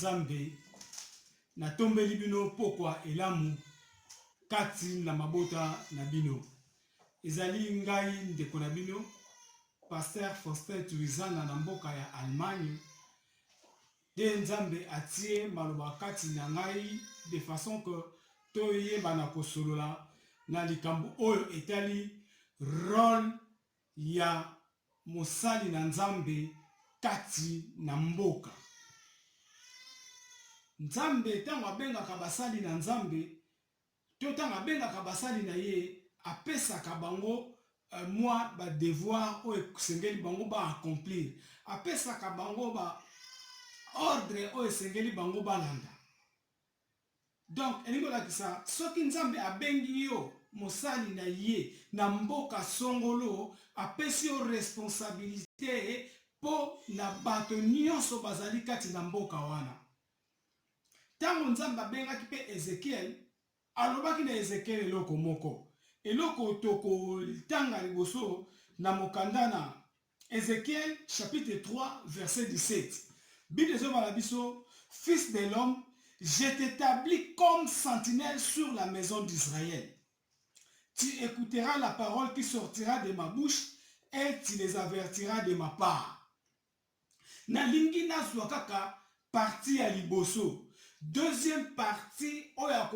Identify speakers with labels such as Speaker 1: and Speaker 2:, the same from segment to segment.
Speaker 1: nzambe natombeli bino pokwa elamu kati na mabota na bino Ezali ngai ndeko na bino Pasteur Faustin Tuizana na mboka ya Allemagne nde Nzambe atie maloba kati na ngai de façon que toyebana kosolola na likambo oyo etali role ya mosali na Nzambe kati na mboka. Nzambe ntango abengaka basali na Nzambe To tango abengaka basali na ye, apesaka bango mwa ba devoirs oyo esengeli bango ba accomplir, apesaka bango ba ordres oyo esengeli bango balanda. Donc, elingi kolakisa soki Nzambe abengi yo mosali na Ye na mboka songolo, apesi yo responsabilite mpo na bato nyonso bazali kati na mboka wana. Ntango Nzambe abengaki mpe Ezekiele, alobaki na Ezekiele eloko moko, eloko tokotanga liboso na mokanda na Ezekiele chapitre 3 verset 17. Bible ezoloba na biso, Fils de l'homme, je t'établis comme sentinelle sur la maison d'Israël. Tu écouteras la parole qui sortira de ma bouche et tu les avertiras de ma part. Nalingi nazwa kaka partie ya liboso. Deuxième partie oyo ya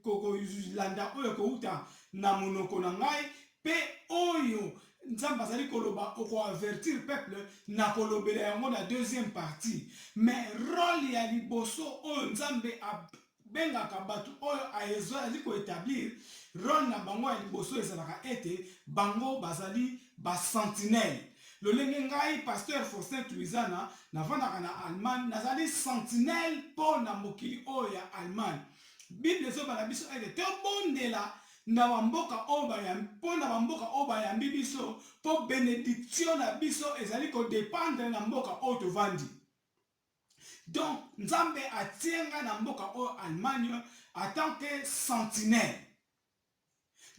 Speaker 1: kolanda oyo ekowuta na monoko na ngai pe oyo Nzambe azali koloba oko avertir peuple, nakolobela yango na deuxième partie. Mais role ya liboso oyo Nzambe a bengaka bato oyo aezali ko etablir, role na bango ya liboso ezalaka ete bango bazali ba sentinelles. Lolenge ngai Pasteur Faustin Tuizana nafandaka na Allemagne, nazali sentinelle mpo na mokili oyo ya Allemagne. Bible ezobala biso ete tobondela na ba mboka oyo bayambi, mpo na ba mboka oyo bayambi biso, mpo benediction na biso ezali ko dependre na mboka oyo tovandi. Donc nzambe atie nga na mboka oyo Allemagne en tant que sentinelle.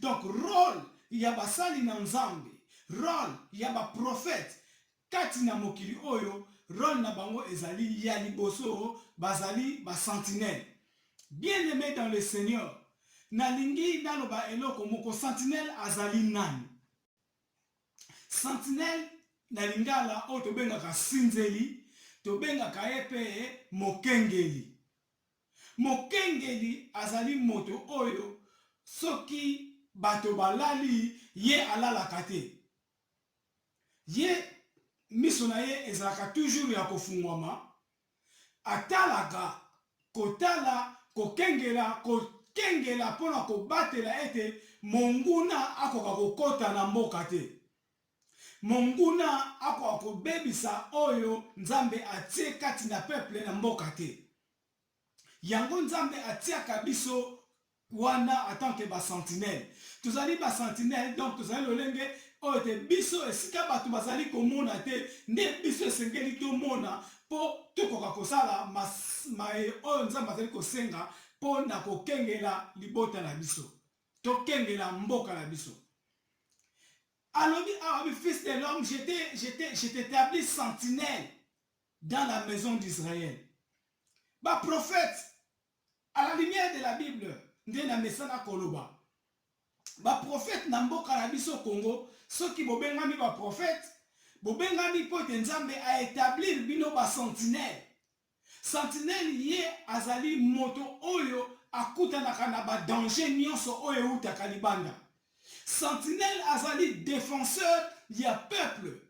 Speaker 1: Donc role ya basali na nzambe, role ya ba prophètes kati na mokili oyo role na bango ezali ya liboso bazali ba sentinelles. Bien aime dans le seigneur, nalingi naloba eloko moko sentinelle azali nani? Sentinelle na lingala oyo tobengaka sinzeli, tobengaka ye mpe mokengeli. Mokengeli azali moto oyo soki bato balali, ye alalaka te. Ye miso na ye ezalaka toujours ya kofungwama Atalaka, kotala, kokengela, kokengela mpo na kobatela ete monguna akoka kokota na mboka te. Monguna akoka kobebisa oyo Nzambe atie kati na peuple na mboka te. Yango Nzambe atiaka biso wana en tant que ba sentinelle tozali ba sentinelle donc tozali lolenge oyo te biso esika bato bazali komona te nde biso esengeli tomona mpo tokoka kosala maye oyo nzambe azali kosenga mpo na kokengela libota na biso tokengela mboka na biso alobi awa ah, fils de l'homme je t'établis sentinelle dans la maison d'israël baprofete A la lumière de la bible nde na mesana koloba ba prophètes na mboka na biso Congo soki bobengami ba prophètes bobengami mpo ete Nzambe a etablir bino ba sentinelles. Sentinelle ye azali moto oyo akutanaka na ba dangers nionso oyo ewutaka libanda. Sentinelle azali defenseur ya peuple.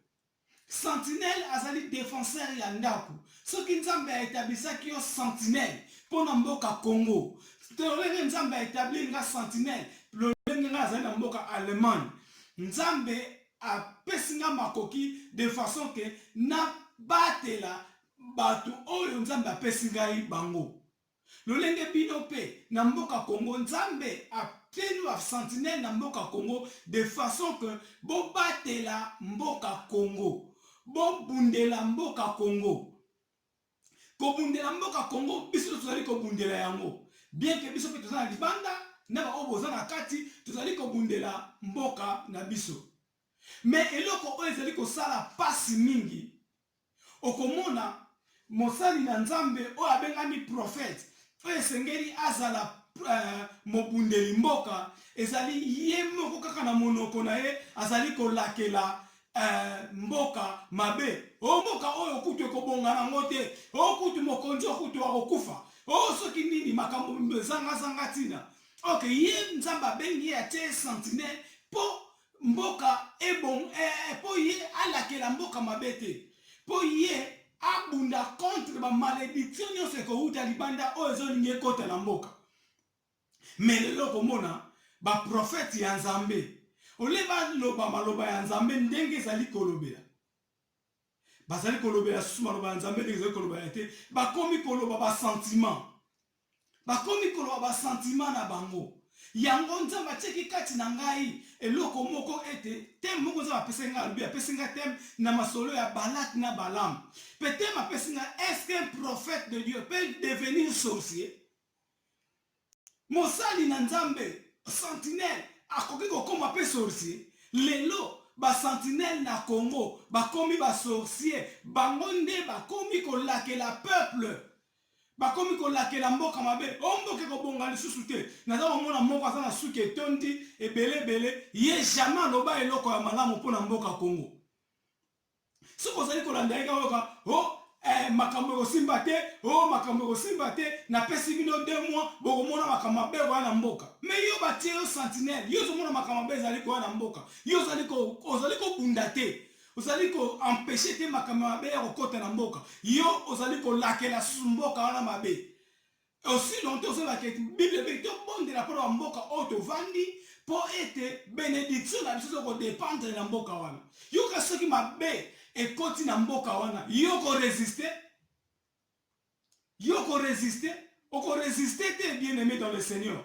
Speaker 1: Sentinelle azali defenseur ya ndaku soki nzambe a etablisaki yo sentinelle pona mboka Congo lolenge nzambe a etablir nga sentinelle lolenge nga nazali na mboka Allemagne nzambe a pesi nga makoki de façon que na batela batu oyo nzambe a pesi ngai bango Lolenge bino pe na mboka Congo nzambe a pelu a sentinelle na mboka Congo de façon que bo batela mboka Congo bo bundela mboka Congo ko bundela mboka Congo biso nionso tozali ko bundela yango bien que biso pe toza na libanda na ba oyo boza na kati tozali ko bundela mboka na biso. Mais eloko oyo ezali kosala pasi mingi, okomona mosali na Nzambe oyo abengami prophète, oyo esengeli azala mobundeli mboka, ezali ye moko kaka na monoko na ye azali kolakela mboka mabe. Oh mboka oyo kutu ekobonga na ngo te, oh kutu mokonzi oyo kutu akokufa, oh soki nini, makambo ezanga zanga tina. Ok, ye Nzambe abengi ye atie ye sentinelle po mboka ebongo eh, eh, po ye alakela mboka mabe te po ye abunda contre ba malediction nyonso ekowuta libanda oyo ezolingi ekota na mboka me lelo okomona baprofete ya nzambe ole baloba maloba ya nzambe ndenge ezali kolobela bazali kolobela susu maloba ya Nzambe ndenge ezali koloba ya te, bakomi koloba ba sentiment, bakomi koloba ba sentiment na bango. Yango Nzambe atiaki kati na ngai eloko moko ete teme moko Nzambe apesaki ngai, alobi apesi ngai teme na masolo ya Balak na Balam, pe teme apesi ngai est-ce qu'un prophète de Dieu peut devenir sorcier? Mosali na Nzambe, sentinelle, akoki kokoma mpe sorcier? Lelo ba sentinelles na Congo bakomi ba sorciers, bango nde bakomi kolakela peuple, bakomi kolakela mboka mabe, oh mboka ekobonga lisusu te, naza komona moko aza na suki etondi ebele ebele, ye jamais aloba eloko ya malamu mpo na mboka Congo. soki ozali kolanda ye kaka o oh, eh, makambo ekosimba te o oh, makambo ekosimba te napesi bino de mois bokomona makambo mabe ekoya na mboka me yo batie yo sentinele yo ozomona makambo mabe ezali koya na mboka yo ozali kobunda te ozali koempeshe te makambo mabe ya kokota na mboka yo ozali kolakela mboka wana mabe Aussi longtemps ozoloba ke Bible elobi tobondela mpo na bamboka oyo tovandi mpo ete benediction na biso ezo kodependre na mboka wana. Yoka soki mabe ekoti na mboka wana, yo okoresiste? Yo okoresiste? Okoresiste te bien aime dans le Seigneur.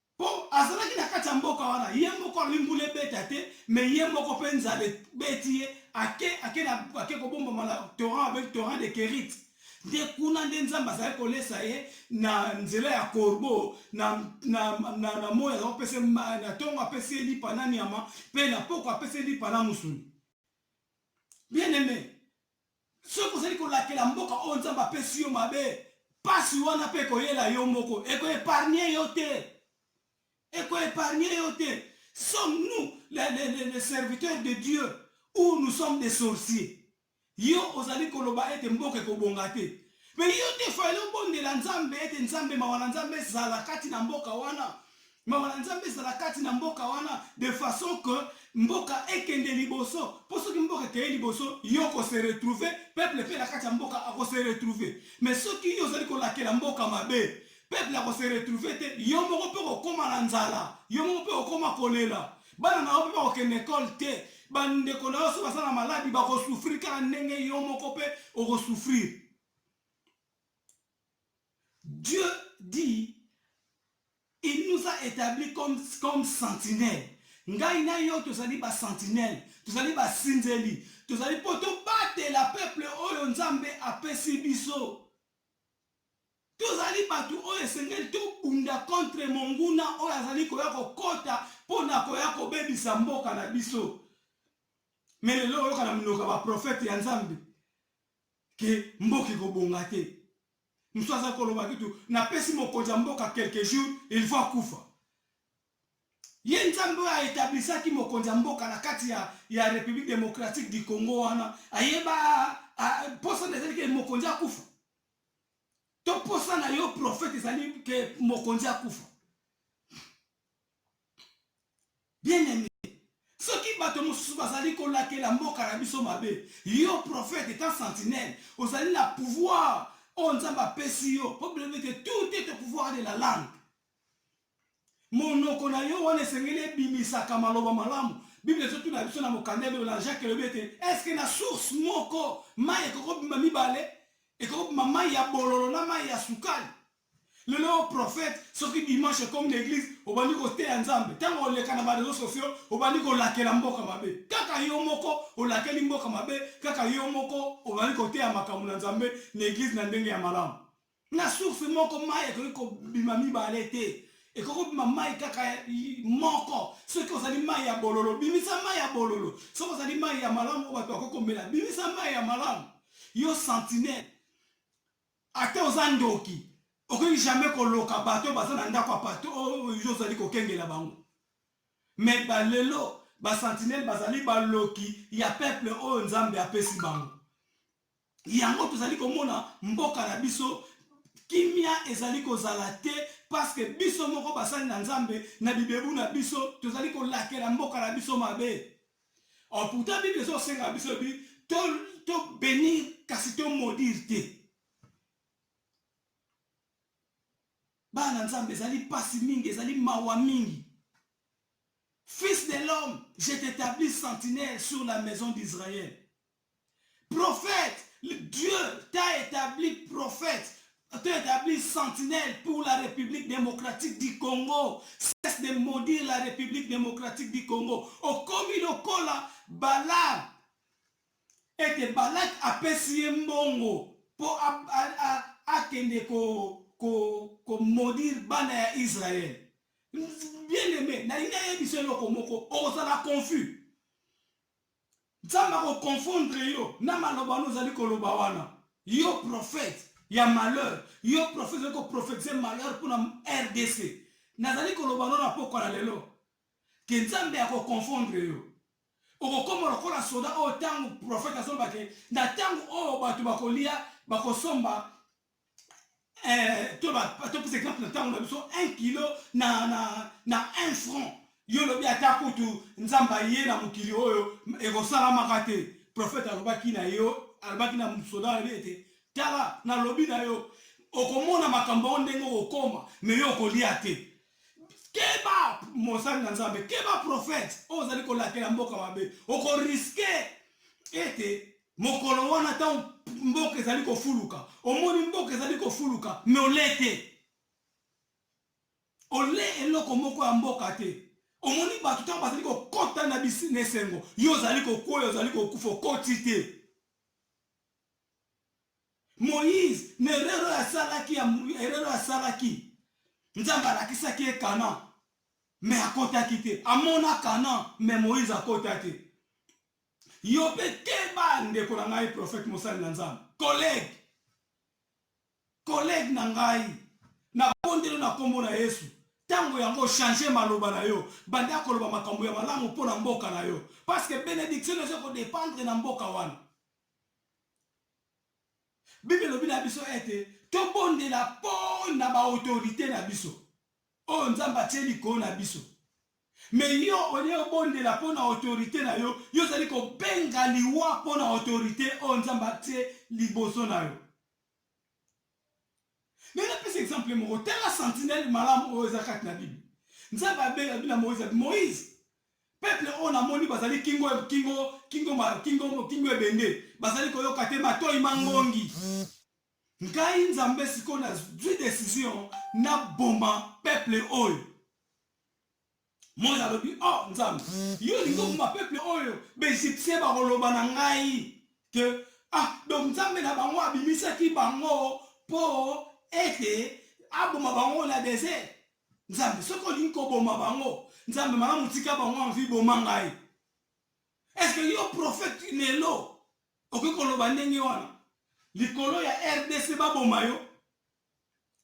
Speaker 1: Po azalaki na kati ya mboka wana ye moko alobi mbula ebeta te mais ye moko pe nzala ebeti ye ake ake na ake kobombama na torrent babengi torrent de Kerit nde kuna nde Nzambe azalaki kolesa ye na nzela ya corbeau na na na na moyi azalaki kopesa ye ma na tongo apesi ye lipa na nyama pe na pokwa apesi ye lipa na musuni bien aime Soki ozali kolakela mboka oyo Nzambe apesi yo mabe, pasi wana pe ekoyela yo moko, eko epargner yo te, eko epargner yo te. Sommes nous les, les, les, les serviteurs de Dieu ou nous sommes des sorciers? Yo ozali koloba ete mboka ekobonga te, mais yo te fallait obondela Nzambe ete Nzambe, mawa na Nzambe ezala kati na mboka wana. mawa na nzambe ezala kati na mboka wana de façon que mboka ekende liboso mpo soki mboka ekeye liboso yo kose retrouve peuple mpe na kati ya mboka akose retrouve mais soki yo ozali kolakela mboka mabe peuple akose retrouve te yo moko mpe kokoma na nzala yo moko mpe kokoma kolela bana na yo mpe bakokende ekole te bandeko na yo so baza na maladi bakosufrir kaka ndenge yo moko mpe okosufrir Dieu dit il nous a etabli comme comme sentinelle ngai na yo tozali ba sentinelle tozali ba sinzeli tozali po to batela peuple oyo nzambe apesi biso tozali batu oyo esengeli to bunda contre monguna oyo azali koya kokota po na koya kobebisa mboka na biso mais lelo oyoka na minoka ba prophète ya nzambe que mboka ekobonga te mosusu aza koloba kitu napesi mokonzi ya mboka quelque jour il faut akufa ye nzambe oyo aetablisaki mokonzi ya mboka na kati ya, ya république démocratique du congo wana ayeba mposa na ezali ke mokonzi akufa to mposa na yo prophète ezali ke mokonzi akufa Bien aime soki bato mosusu bazali kolakela mboka na biso mabe, yo prophète etant sentinelle ozali na pouvoir oyo Nzambe apesi yo po blo que tout est au pouvoir de la langue. Monoko na yo wana esengeli ebimisaka maloba malamu. Bible ezotuna biso na mokanda ya Bible na Jacques elobi ete est ce que na source moko mayi ekoki kobima mibale? Ekoki kobima mayi ya bololo na mayi ya sukali. Lelo yo prophète soki dimanche ekomi na eglise obandi ko teya nzambe tango oleka na ba reseaux sociaux obandi ko lakela mboka mabe kaka yo moko olakeli mboka mabe kaka yo moko obandi ko teya makambu na nzambe na eglise na ndenge ya malamu na source moko mayi ekoki ko bima mibale te ekoki ko bima mayi kaka moko soki ozali mayi ya bololo bimisa mayi ya bololo soki ozali mayi ya malamu oyo batu bakoki ko mela bimisa mayi ya malamu yo sentinelle Ata oza ndoki okoki jamais koloka bato oyo baza na ndako ya bato oyo yo ozali kokengela bango. Mais ba lelo ba sentinelles bazali baloki ya peuple oyo Nzambe apesi bango. Yango tozali komona mboka na biso kimia ezali kozala te parce que biso moko basali na Nzambe na bibebu na biso tozali kolakela mboka na biso mabe. Or pourtant Bible ezo senga biso bi to to bénir kasi to maudire te. Bana Nzambe ezali pasi mingi, ezali mawa mingi. Fils de l'homme, je t'établis sentinelle sur la maison d'Israël. Prophète Dieu t'a etabli prophète t'a etabli sentinelle pour la Republique Democratique du Congo cesse de maudire la Republique Democratique du Congo okomi lokola Balaam ete Balak apesi ye mbongo po akende ko maudire bana ya Israël bien aime nalingi ayebisa yo eloko moko okozala confus. Nzambe ako confondre yo na maloba wana ozali koloba wana. Yo prophète ya malheur, yo prophète ozali ko prophetiser malheur pona rdc. Nazali koloba no na pokwa na lelo que Nzambe ako confondre yo. Okokoma lokola soda oyo tango prophète azoloba que na tango oyo bato bakolia, bakosomba eh, topesa exemple na ntango na biso 1 kilo na, na, na 1 franc yo lobi ata kutu nzambe aye na mokili oyo ekosalamaka te profete alobaki na yo alobaki na soda na ye ete tala nalobi na yo okomona makambo yango ndenge okokoma me yo okolia te keba mosali na nzambe keba profete oyo ozali kolakela mboka mabe okoriske ete Mokolo wana ntango mboka ezali kofuluka, omoni mboka ezali kofuluka, mais olee te. Olee eloko moko ya mboka te. Omoni bato ntango bazali kokota na bisi na esengo, yo ozali kokweya, ozali kokufa, okoti te. Moïse, na erreur oyo asalaki, ya erreur oyo asalaki, Nzambe alakisaki ye Canaan, mais akotaki te. Amona Canaan, mais Moïse akota te. Yo pe keba ndeko na ngai prophète mosali na nzambe collègue collègue na ngai na bondelo na kombo na yesu tango yango change maloba na yo banda koloba makambo ya malamu mpo na mboka na yo parce que benediction eza ko dépendre na mboka wana bible elobi na biso ete tobondela mpo na baautorité na biso oyo nzambe atie likolo na biso mais yo olie obondela mpo na autorite na yo yo ozali kobenga liwa mpo na autorite oyo nzambe atie liboso na yo mais napesa exemple moko tala sentinelle malamu oyo eza kati na bible nzambe abenga bina moise moise peuple oyo namoni bazali kingo kingo kingo kingo kingo ebende bazali koyoka te matoi mangongi Ngai nzambe sikoyo na zui decision na boma peuple oyo. Moïse alobi oh nzambe yo olingi oboma peuple oyo ba egyptien bakoloba na ngai que ah donc nzambe na bango abimisaki bango po ete aboma bango na desert. Nzambe soki olingi koboma bango nzambe malamu tika bango en vie boma ngai. Est-ce que yo prophète lelo Okoki koloba ndenge wana likolo ya rdc baboma yo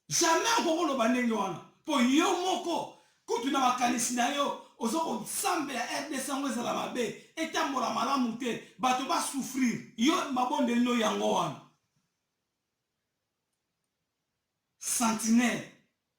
Speaker 1: jamais okoki koloba ndenge wana mpo yo moko kutu na makanisi na yo oza kosambela rdc yango ezala mabe etambola malamu te bato basouffrir yo mabondeli no yango wana sentinelle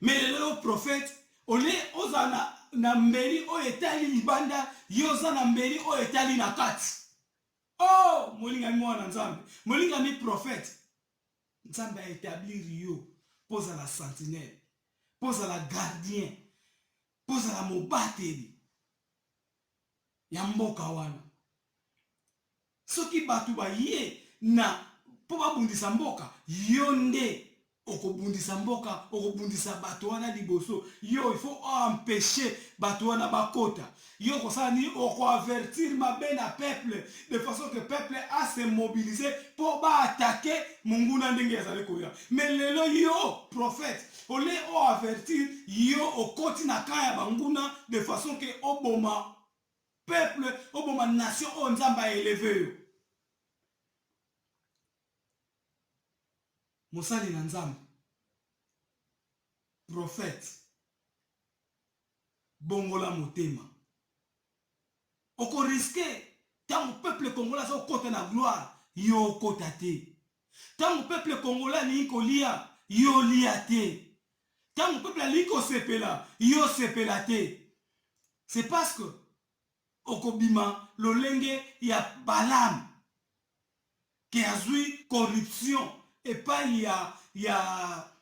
Speaker 1: Mais lelo yo prophète au lieu ozala na, na mbeli oyo etali libanda, yo oza na mbeli oyo etali na kati. Oh, molingami mwana na Nzambe, molingami prophète, Nzambe a etablir yo mpo ozala sentinelle, mpo ozala gardien, mpo ozala mobateli ya mboka wana. Soki batu baye na po babundisa mboka yo nde okobundisa mboka okobundisa batu wana liboso yo il faut o empecher batu wana bakota yo okosala nini oko avertir mabe na peuple de façon que peuple a se mobiliser po ba attaquer munguna ndenge azali koya mais lelo yo prophète ole o avertir yo okoti na camp ya banguna de façon que oboma Peuple oboma nation oyo nzambe a eleve yo mosali na nzambe prophète bongola motema oko riske ntango peuple congolais azokota na gloire yo okota te Tango peuple congolais alingi kolia, yo olia te. Tango peuple alingi kosepela, yo osepela te. C'est parce que okobima lolenge ya Balaam que azui corruption epayi ya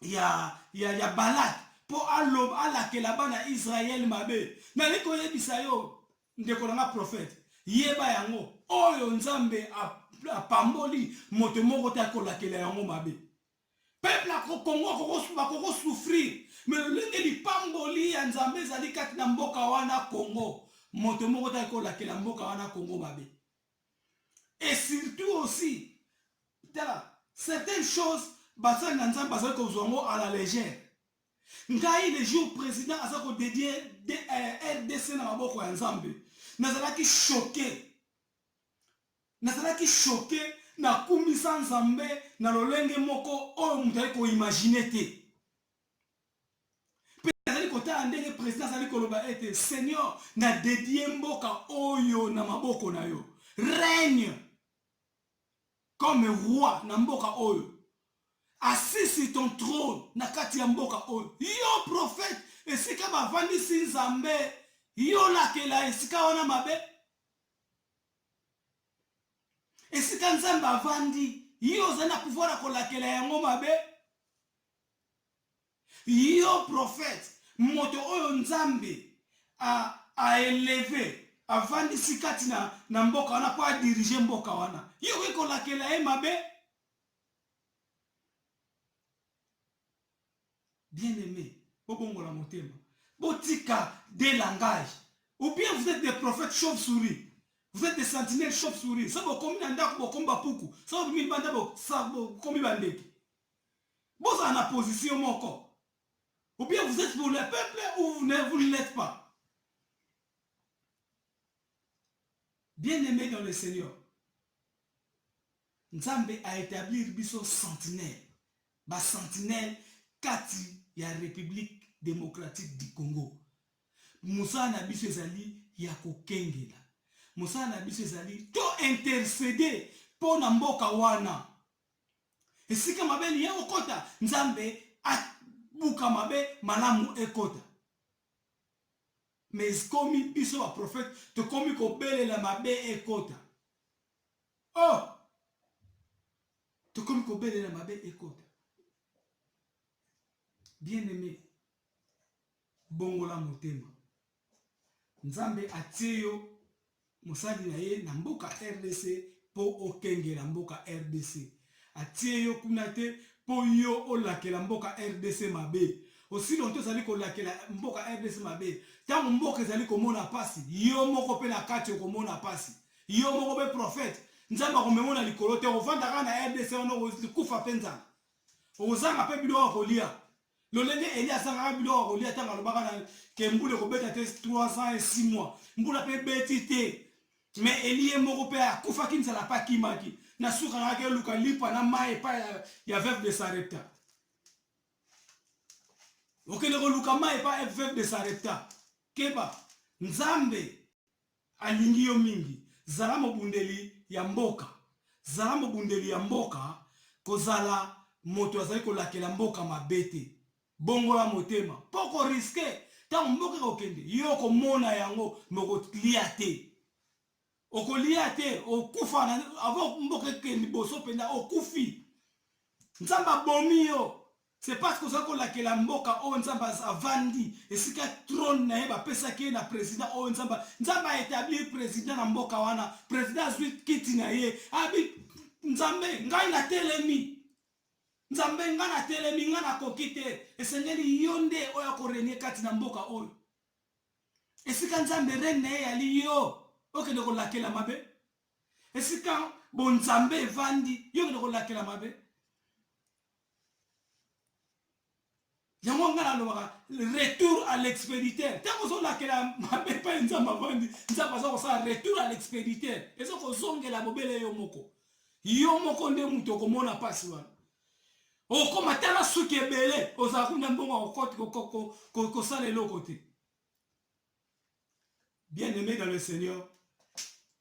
Speaker 1: ya, ya, ya Balak, mpo aloba, alakela bana Yisraele mabe. Nalingi koyebisa yo, ndeko na ngai profete, yeba yango, oyo Nzambe a, apamboli, moto moko te akolakela yango mabe. Peuple ya Congo akokosu- bakokosufrir, me lolenge lipamboli ya Nzambe ezali kati na mboka wana Congo, moto moko te akolakela mboka wana Congo mabe. et surtout aussi tala certaines choses basali na nzambe bazali kozwa yango à la legère ngai le jour président aza ko dédier eh, rdc na maboko ya nzambe nazalaki choqué nazalaki choqué nakumisa nzambe na lolenge moko oyo moto ali koimagine te Mpe nazali kotala ndenge president azali koloba ete seigneur na dedie mboka oyo na maboko na yo règne comme roi na mboka oyo asisi ton trône na kati ya mboka oyo yo prophète esika bavandisi nzambe yo lakela esika wana mabe esika nzambe avandi yo ozali na pouvoir ya kolakela yango mabe Yo prophète moto oyo nzambe a a eleve avandisi kati na na mboka wana po a dirige mboka wana yo okoki kolakela ye mabe? Bien aime bobongola motema botika de langage ou bien vous etes des prophètes chauve souris vous etes des sentinelles chauve souris soki bokomi na ndaku bokomi ba puku soki bokomi libanda bokomi ba ndeke Bozala na position moko. Ou bien vous etes pour le peuple ou vous ne vous ne l'êtes pas. Bien aimé dans le Seigneur. Nzambe a établir biso sentinelle. Ba sentinelle kati ya République démocratique du Congo. Mosala na biso ezali ya kokengela. Mosala na biso ezali to interceder mpo na mboka wana. Esika mabe liye okota nzambe a buka mabe malamu ekota mais komi biso ba prophète tokomi kobelela mabe ekota oh tokomi kobelela mabe ekota bien aimé bongola motema Nzambe atie yo mosali na ye na mboka rdc po okengela mboka rdc. Atie yo kuna te po yo olakela mboka rdc mabe. Osi lonto ozali kolakela mboka rdc mabe. Tango mboka ezali komona pasi, yo moko pe na kati okomona pasi. Yo moko pe prophete, Nzambe akomema yo na likolo te, okovanda kaka na rdc wana okokufa pe nzala. Okozanga pe biloko ya kolia. Lolenge Elie asangaka biloko ya kolia ntango alobaka na ke mbula ekobeta te 3 ans et 6 mois, mbula mpe ebeti te. Mais Elie ye moko mpe akufaki nzala mpe akimaki. Na suka ayaki eluka lipa na mai epai ya, ya veuve de Sarepta. Okende koluka mai epai veuve de Sarepta. Keba, Nzambe Alingi yo mingi. Zala mobundeli ya mboka. Zala mobundeli ya mboka. Kozala moto azali kolakela mboka mabe te. Bongola motema. Mpo oko risquer. Tango mboka ekokende, yo okomona yango mais okolia te. Okolia te. Okokufa na, avant mboka ekende liboso mpenza, okufi. Nzambe abomi yo. C'est parce que ozali kolakela mboka oyo nzambe az avandi esika trone na ye bapesaki ye na president oyo nzambe nzambe a etablir president na mboka wana president azwi kiti na ye abi nzambe ngai natelemi nzambe ngai natelemi ngai nakoki te esengeli yo nde oyo akorenie kati na mboka oyo esika nzambe rene na ye yali yo okende kolakela mabe esika bonzambe evandi yo okende kolakela mabe yango ngai nalobaka retour à l'expéditeur ntango ozolakela mabe epai nzambe avandi nzambe aza kosala retour à l'expéditeur eza kozongela bobele yo moko yo moko nde moto okomona mpasi wana okoma tala suki ebele ozala kuna mbongo kosala eloko te bien aimé dans le seigneur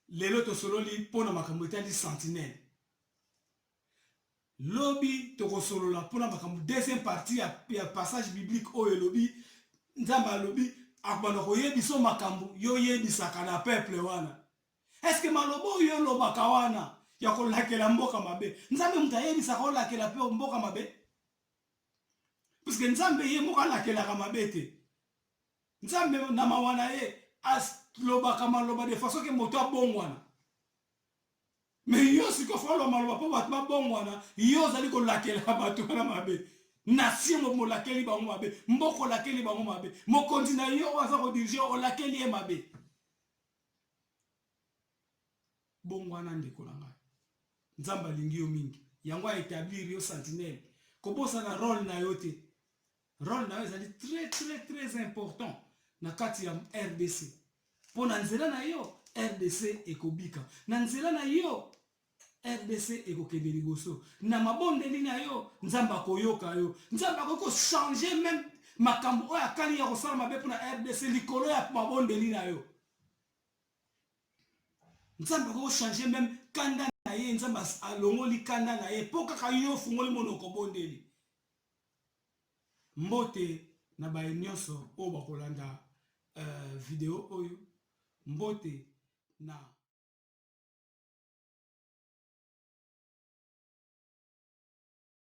Speaker 1: lelo tosololi mpo na makambo etali sentinelle Lobi toko solola pona makambo deuxième partie ya ya passage biblique oyo elobi nzambe alobi akobanda koyebiso makambo yo yebisaka na peuple wana est ce que maloba oyo yo olobaka wana ya kolakela mboka mabe nzambe moto ayebisaka olakela pe mboka mabe puisque nzambe ye moko alakelaka mabe te nzambe na mawa na ye alobaka maloba de façon ke moto abongwana Mais yo siko folo maloba po bato babongwana, yo ozali kolakela bato wana mabe. Nation mo molakeli bango mabe, mboka olakeli bango mabe, mokonzi na yo oyo aza ko diriger olakeli ye mabe. Bongwana ndeko na ngai. Nzambe alingi yo mingi. Yango a etablir yo sentinelle. Kobosana role na yo te. Role na yo ezali très très très important na kati ya RDC. Mpo na nzela na yo RDC ekobika, na nzela na yo rdc ekokende liboso na mabondeli na yo nzambe akoyoka yo nzambe akoki kochange meme makambo oyo akani ya kosala mabe mpona rdc likolo ya mabondeli na yo nzambe akoki kochange meme kanda na ye nzambe alongoli kanda na ye mpo kaka yo ofungoli monoko bondeli Mbote na baye nionso oyo bakolanda video oyo, mbote na.